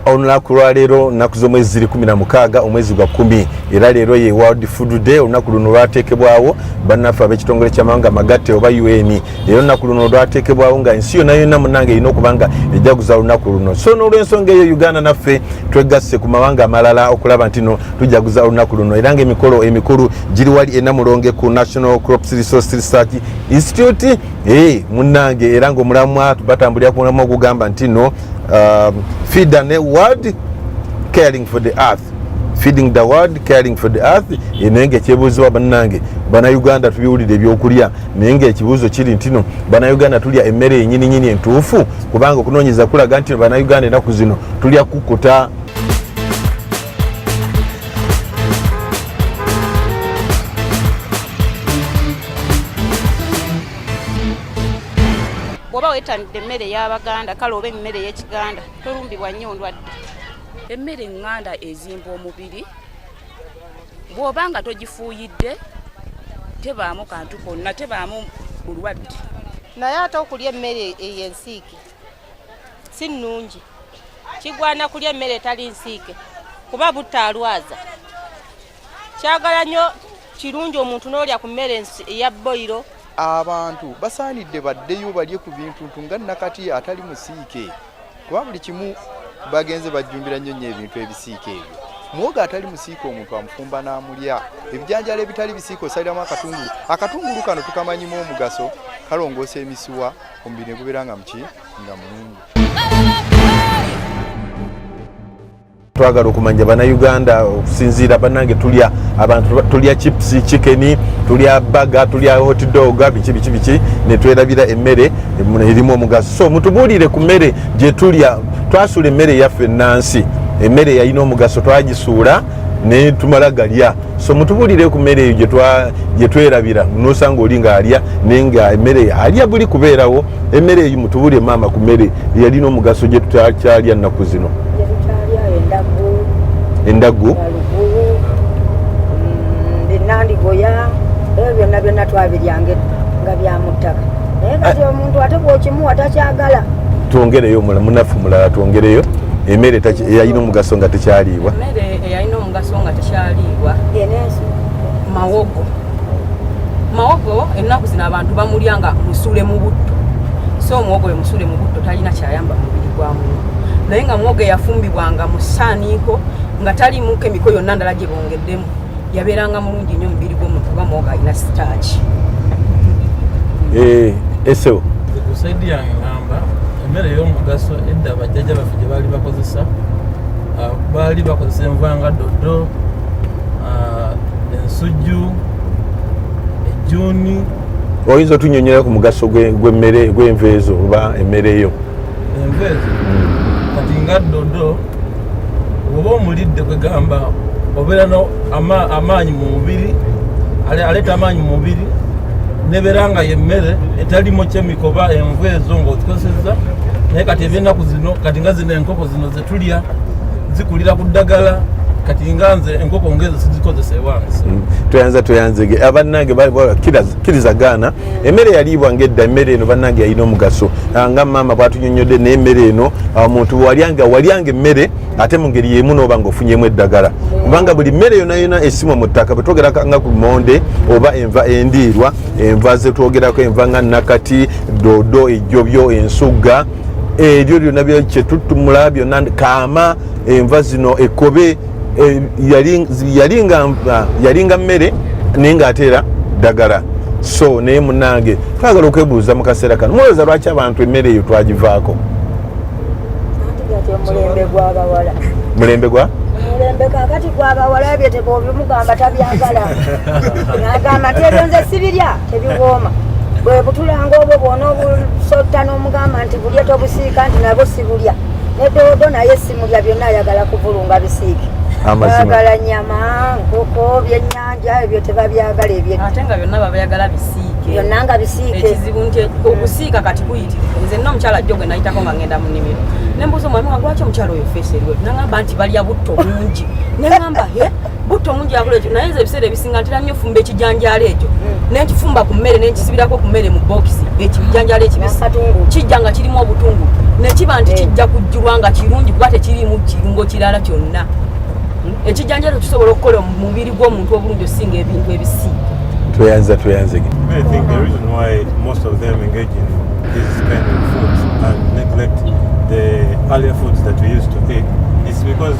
olunaku lwaleero nnaku z'omwezi ziri kumi na mukaaga omwezi gwa kumi era leero ye world food day olunaku luno lwateekebwawo bannaffe ab'ekitongole ky'amawanga amagatte oba un era olunaku luno lwateekebwawo nga ensi yonna yonna munange erina okuba nga ejaguza olunaku luno so n'olwensonga eyo uganda naffe twegasse ku mawanga amalala okulaba nti no tujaguza olunaku luno era ng'emikolo emikulu giri wali enamulonge ku national crops resource research institute Hey, munange era nga omulamwa batambulira ku mulamwa ogugamba nti no um, feed the world caring for the earth feeding the world caring for the earth eh, naye nga ekyebuuzibwa bannange banauganda tubiwulira ebyokulya naye nga ekibuuzo kiri ntino banauganda tulya emmere yenyininyini entuufu kubanga okunoonyeza kulaga nti banauganda enaku zino tulya kukuta bwoba wetanidde emmere ey'abaganda kale oba emmere ey'ekiganda tolumbibwa nnyo ndwadde emmere eŋŋanda ezimba omubiri bw'oba nga togifuuyidde tebaamu kantu konna tebaamu bulwadde naye ate okulya emmere eyo ensiike si nnungi kigwana kulya emmere etali nsiike kuba butaalwaza kyagala nnyo kirungi omuntu n'olya ku mmere eya boyiro abantu basaanidde baddeyo balye ku bintuntu nga nakati atali musiike kuba buli kimu bagenze bajjumbira nnyo nnyo ebintu ebisiike ebyo mwoga atali musiika omuntu amufumba n'amulya ebijanjalo ebitali bisiika osaliramu akatungulu akatungulu kano tukamanyimu omugaso kalongoosa emisiwa omubiri ne gubeera nga muki nga mulungi twagala okumanya banauganda okusinziira banange tulya abantu tulya chips chicken tulya baga tulya hotdoga biki biki biki netwerabira emmere erimu omugaso so mutubuulire ku mmere gyetulya twasuula emmere yaffe enansi emmere yalina omugaso twagisuula netumala galya so mutubulire ku mmere eyo gye twerabira nosanga oli ng'alya naye nga emmere alya buli kubeerawo emmere eyo mutubulire maama ku mmere eyalina omugaso gye tutakyalya nnaku zino endagu binandigoya mm, ebyo byonna byonna twabiryanga nga byamuttaka naye ah. kati omuntu ate bwokimuwa takyagala twongereyo munafu mulala twongereyo emmere yalina omugaso nga tekyaliibwa yalina omugaso nga tekyaliibwa mawogo mawogo ennaku zino abantu bamulya nga musule mu butto so omuwogo we musule mu butto talina kyayamba mubiri gwa muntu naye nga muwogo eyafumbibwa nga musaaniiko nga taliimuko emiko yonna ndala gye bongeddemu yabeeranga mulungi nnyo omubiri gw'omuntu oba muwogo alina sitaaki eh, eseo kusaidi yange ngamba emmere ey'omugaso edda bajjaja baffe gye baali bakozesa ah, baali bakozesa enva nga doddo ah, ensujju ejjuuni oyinza otunyonyera ku mugaso gwemmere gwenva ezo oba emmere yo enva ezo hmm. kati nga doddo oba omulidde kwegamba obeera no amaanyi mu mubiri aleeta amaanyi mu mubiri nebeera nga yemmere etalimu kyemiko oba enva ezo ngaozikozesezza naye kati ebyenaku zino kati nga zino enkoko zino ze tulya zikulira ku ddagala kati nga nze enkoko ngeze sizikozesa ewange mm. tweyanza tweyanzege ah, bannange kiriza gaana mm. emmere yaliibwa ngaedda emmere eno bannange yalina omugaso ah, nga maama bwatunyonyodde naye emmere eno ah, omuntu walyanga walyanga emmere ate mu ngeri yemu nooba nga ofunyemu eddagala mm. kubanga buli mmere yona yona esimwa mu ttaka bwetwogeraka nga ku monde oba enva endiirwa enva zetwogerako enva nga nakati dodo ejjobyo ensugga ebyo byonna byekyetuttumula byonna kaama enva zino ekobe e, yalinga mmere naye ngaateera ddagala so naye munange twagala okwebuuza mu kaseera kano mulowooza lwaki abantu emmere eyo twagivaako mulembe gwa mulembe kakati gwabawala ebyo tebobimugamba tabyagala agamba tebyonze sibirya tebiwooma bwebutulanga obwo bwona obusotano mugamba nti bulya tobusiika nti nabo sibulya nedodo naye simulya byonna ayagala kuvulunga bisiike bagala nyama nkoko byenyanja ebyo tebabyagala ebyeate nga byonna babyagala bisiike byonna nga bisiike ekizibu nti okusiika kati kuyitirivu nze nna omukyala jjo gwe nayitako nga ngenda mu nimiro nembuuza omwami wagwaki omukyala oyo feesi eriwe nagamba nti balya butto bungi nagamba butto mungi yakola ekyo naye nze ebiseera ebisinga ntera nnyo ofumba ekijanjaalo ekyo hmm. nenkifumba ku mmere nenkisibirako ku mmere mu bokisi ekijanjaalo ekibisi kijja nga kirimu obutungu nekiba nti hmm. kijja kujjulwa nga kirungi kuba tekiriimu kirungo kirala kyonna hmm. ekijanjaalo kisobola okukola omubiri gw'omuntu obulungi osinga ebintu ebisi tweyanza tweyanzege Kind of foods and neglect the earlier foods that we used to eat. It's because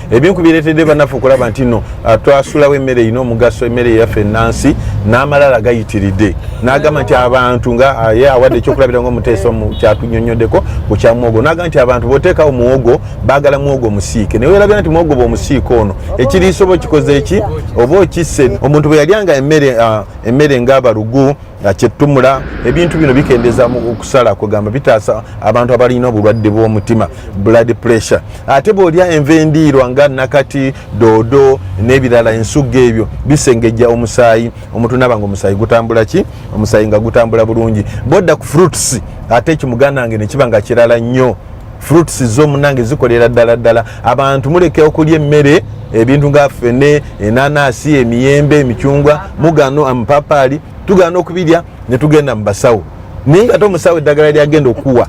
ebimu ku bireetedde bannaffe okulaba nti no ah, twasulawo emmere erina omugaso emmere yaffe ennansi n'amalala gayitiridde n'agamba nti abantu nga ah, ye awadde ekyokulabira nga omuteesa omu kyatunyonyoddeko ku kya muwogo n'agamba nti abantu b'oteekawo muwogo baagala muwogo omusiike naye werabira nti muwogo bw'omusiike ono ekiriisa oba okikoze eki oba okisse omuntu bwe yalyanga emmere ah, emmere ng'abalugu nga kyetumula ebintu bino bikendeza mu okusala kugamba bitaasa abantu abalina obulwadde bw'omutima blood pressure ate bw'olya enva endiirwa nga nakati doodo n'ebirala ensugga ebyo bisengejja omusaayi omuntu naaba nga omusaayi gutambula ki omusaayi nga gutambula bulungi bwodda ku fruits ate ekimuganda nge nekiba nga kirala nnyo fruits zo munange zikolera ddala ddala abantu muleke okulya emmere ebintu nga fene enanasi emiyembe emicungwa mugano amapapaali tugana nokubirya netugenda mubasawo naye nga tomusawo eddagala lyagenda okuwa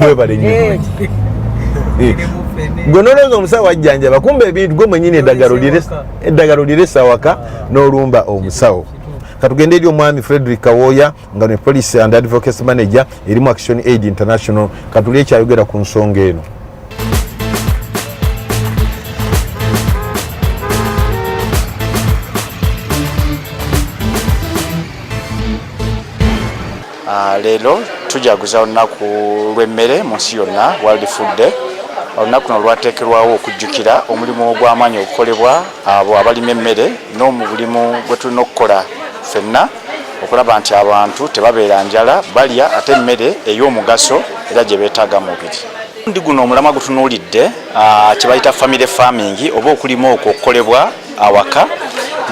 webale nyo eh. eh. gwe nolowooza omusawo ajjanjaba kumba ebintu gwe mwenyini eddagala oliresa waka ah. nolumba omusawo katugende eri omwami frederick kawoya nga ne police and advocacy manager erimu action aid international katuli ekyayogera ku nsonga eno Ah, leero tujaguza olunaku lw'emmere mu nsi yonna world food day olunaku no lwateekerwawo okujjukira omulimu ogw'amaanyi ogukolebwa abo abalima emmere n'omubulimu gwe tulina okukola ffenna okulaba nti abantu tebabeera njala balya ate emmere ey'omugaso era gye beetaaga mubiri ndi guno omulamwa gutunuulidde ah, kyebayita family farming oba okulima okwo okukolebwa awaka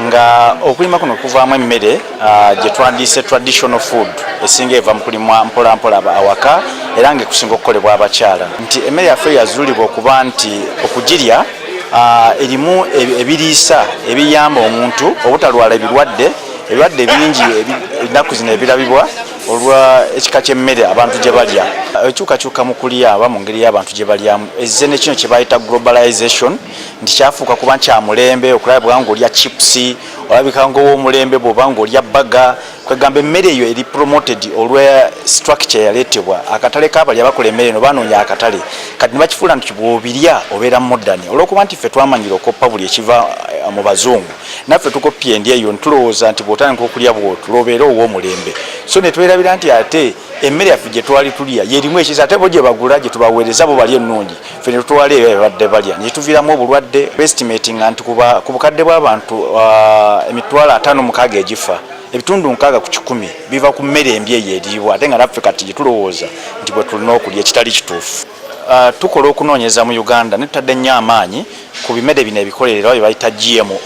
nga okulima kuno kuvaamu emmere ah, gye twandiise traditional food esinga eva mu kulimwa mpolampola awaka era nga ekusinga okukolebwa abakyala nti emmere yaffe yazuulibwa okuba nti okugirya ah, erimu ebiriisa ebiyamba omuntu obutalwala ebirwadde ebirwadde bingi ennaku zino ebirabibwa olwa ekika ky'emmere abantu gye balya ekyukakyuka mu kulya aba mu ngeri y'abantu gye balyamu ezze ne kino kye bayita globalization nti kyafuuka kuba nkyamulembe okulaba bwa ng'olya chips olabika ng'ow'omulembe bw'oba ng'olya bbaga kwegamba emmere eyo eri promoted olwa structure yaleetebwa akatale k'abalya bakola emmere eno banoonya akatale kati ne bakifuula nti bw'obirya obeera modern olw'okuba nti ffe twamanyira okoppa buli ekiva eh, mu bazungu naffe tukoppye endya eyo nitulowooza nti bwotandika okulya bwotu lobeera ow'omulembe so netwerabira nti ate emmere yaffe gye twali tulya yerimu ekiza ate bo gye bagula gye tubaweereza bo balya ennungi ffe netutwala eyo ebadde balya nekituviiramu obulwadde bestimatinga nti ku bukadde bw'abantu uh, emitwalo ataano mukaaga egifa ebitundu nkaaga ku kikumi biva ku mmere embi eyo eriibwa ate nga naffe kati gye tulowooza nti bwe tulina okulya ekitali kituufu Uh, tukola okunoonyeza mu uganda ne tutadde nnyo amaanyi ku bimere bino ebikolerera bye bayita gmo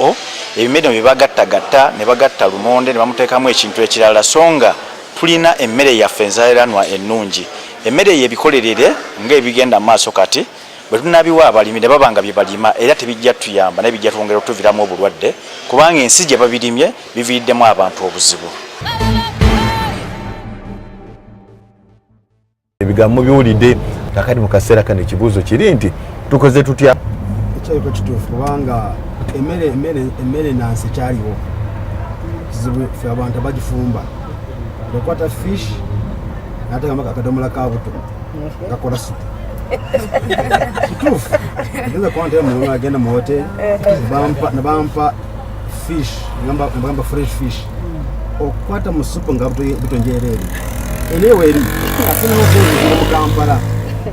ebimere bino bye bagattagatta ne bagatta lumonde ne bamuteekamu ekintu ekirala so nga tulina emmere yaffe enzaeranwa ennungi emmere eyo ebikolerere ng'ebigenda mu maaso kati bwe tunabiwa abalimi ne baba nga bye balima era tebijja tuyamba naye bijja twongera okutuviramu obulwadde kubanga ensi gye babirimye biviriddemu abantu obuzibu ebigambo biwulidde kakati mu kaseera kano ekibuuzo kiri nti tukoze tutya ekyayiko kituufu kubanga emmere nansi ekyaliwo kizibu fe abantu abagifumba ekwata fish nateekamu akadomola ka buto gakola supu kituufu nze kwanta emulola agenda mu hoteri nebampa fish nagamba fresh fish okukwata mu supu nga butonjereere eneweri ate nokuziira mu kampala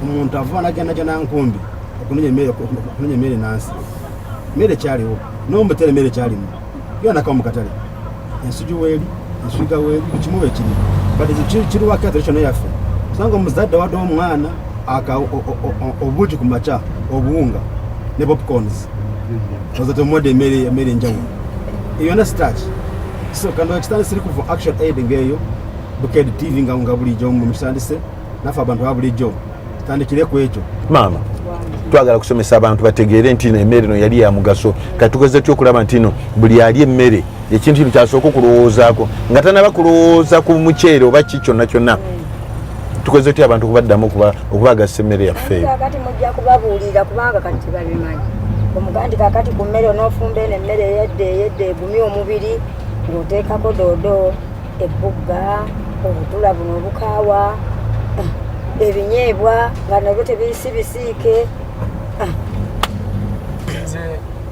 omuntu ava najandaja nankumbi okunonya emmere nansi mmere kyaliwo nomutere emmere kyalimu yonaka mukatale ensuju weeri ensuiga weeri bukimu wekiri but kiriwakatale kyona yaffe kusanga omuzadde wadde omwana aka obuugi ku makya obuwunga ne popcorns oza temuwadde emmere enjawulo eyo na start so kano ekitandise eri kuva action aid ngeeyo bukedi tv nga nga bulijjo mukitandise nafe abantu babulijjo tandikire ku ekyo maama twagala kusomesa abantu bategeere nti no emmere no yali ya mugaso kati tukozesa ty okulaba nti no buli ali emmere ekintu kino kyasooka okulowoozaako nga tanaba kulowooza ku muceere oba ki kyonna kyonna tukoze tutya abantu kubaddamu okubagasa emmere yaffe eyo kakati mujja kubabuulira kubanga kati tebabimanyi omugandi kakati ku mmere onoofumba eno emmere eyedde eyedde egumye omubiri ng'oteekako doodo ebbugga obutula buno obukaawa eh, ebinyeebwa nga nabyo tebiyisi bisiike eh.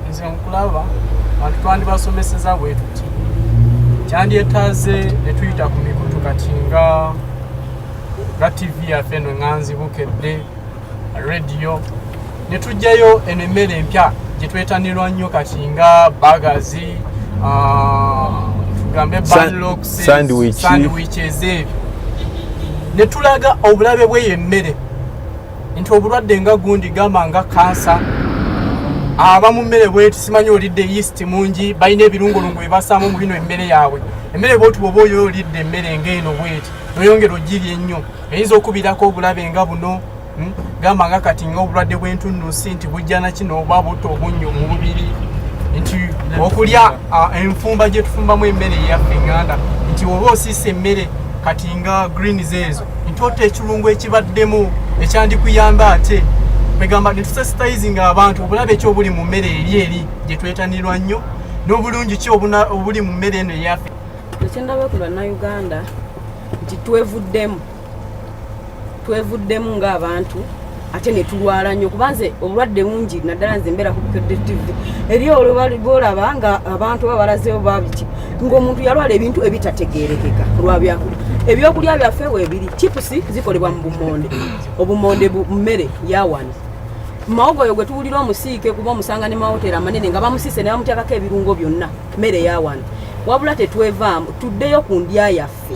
nze nkulaba bantu twandibasomeseza bwetuti kyandyetaze netuyita ku mikutu kati nga nga tv yaffe eno nganzi bukedde radio netugjayo eno emmere empya gyetwetanirwa nnyo kati nga bagazi ah, tugambe banloksandwich ezeebyo netulaga obulabe bweyo emmere nti obulwadde nga gundi gamba nga kansa aba mu mmere bweti simanyi olidde yeast mungi balina ebirungolungu bebasaamu mu bino emmere yaabwe emmere bwoti bwoba oyo olidde emmere ngaeno bweti noyongera ogiri ennyo eyinza okubirako obulabe nga buno hmm? gamba nga kati nga obulwadde bwentunusi nti bujjana kino oba butta obunnyo mu mubiri nti okulya enfumba gyetufumbamu emmere eyaffe enganda nti oba osiisa emmere kati nga greens ezo ntoota ekirungo ekibaddemu ekyandikuyamba ate kwegamba netusensitizinga abantu obulabe ki obuli mu mmere eri eri gye twetanirwa nnyo n'obulungi ki obuli mu mmere eno eyaffe ekyendaba ku bannayuganda nti twevuddemu twevuddemu ng'abantu ate netulwala nnyo kuba nze obulwadde bungi naddala nze mbeera kubukedetv eri olwolaba nga abantu oba balazeyo babiki ngaomuntu yalwala ebintu ebitategerekeka lwabyakula ebyokulya byaffe webiri chipusi zikolebwa mu bumonde obumonde mmere yawano mawogo oyo gwe tuwulira omusiike kuba omusanga ne mawoteri amanene nga bamusiise ne bamutyakako ebirungo byonna mmere yawano wabula tetwevaamu tuddeyo ku ndya yaffe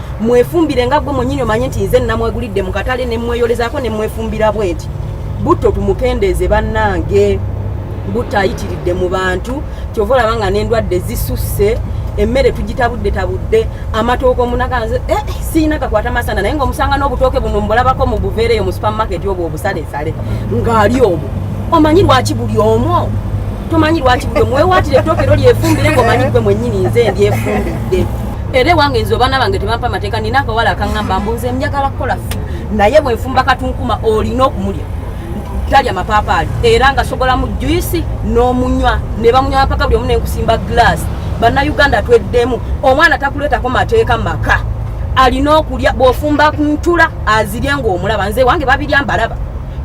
mwefumbire nga gwe mwenyini omanye nti nze namwegulidde mu katale ne mweyolezaako ne mwefumbira bwenti butto tumukendeeze bannange butto ayitiridde mu bantu kyova olaba nga n'endwadde zisusse emmere tugitabudde tabudde amatooka omunaganze eh, eh, siyina gakwata masana naye ngaomusanga n'obutooke buno mbulabako mu buveereyo mu supermarket obwo obusalesale ng'ali omu omanyi lwaki buli omu tomanyi lwaki buli omu wewaatira ettooke ero lyefumbire ng'omanyi gwe mwennyini nze ndyefumbidde era ewange nze obaana bange tebampa mateeka nina akawala akaŋamba mbu nze njagala kukola ffe naye bwenfumba katunkuma olina okumulya talya mapaapaali era nga sogolamu juisi n'omunywa ne bamunywa mpaka buli omu nenkusimba glaasi bannayuganda tweddemu omwana takuleetako mateeka maka alina okulya bwofumba ntula azirye ngaomulaba nze wange babirya mbalaba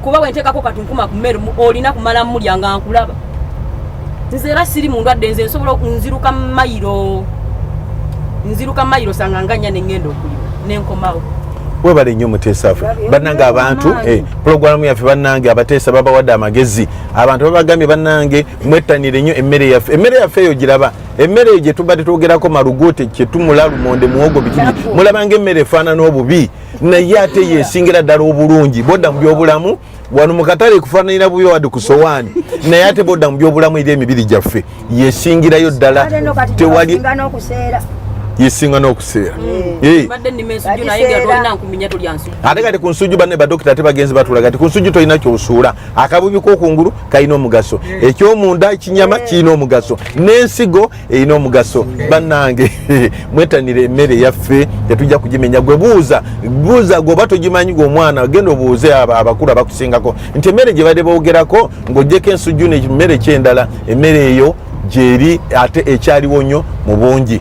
kuba wenteekako katunkuma ku mmere olina kumala mulya nga nkulaba nze era siri mu ndwadde nze nsobola nziruka mayiro nziruka mayiro sanga nga nnya nengenda okulima nenkomawo webale nnyo muteesa ffe bannange abantu eh, pulogulaamu yaffe bannange abateesa babawadde amagezi abantu babagambye bannange mwettanire nnyo emmere yaffe emmere yaffe eyo giraba emmere eyo gyetubadde twogerako malugote kyetumula lumonde muwogo bikii mulabanga emmere efaanana obubi naye ate yesingira ddala obulungi bodda mu byobulamu wano mukatale kufananira bubi wadi ku sowaani naye ate bodda mu byobulamu eri emibiri gyaffe yesingirayo ddala tewali yesinga n'okuseera mm. eh. ate kati ku nsujju banne badokita ate bagenzi batula kati ku nsujju tolina kyosuula akabubi kokungulu kalina omugaso ekyomunda kinyama eh. kirina omugaso n'ensigo erina omugaso bannange mwetanire emmere yaffe tetujja kugimenya gwe buuza buuza gweoba togimanyi gwe omwana genda obuuze abo abakulu abakusingako nti emmere gye badde boogerako ng'ogyeko ensujju nemmere kyendala emmere eyo gyeri ate ekyaliwo nnyo mu bungi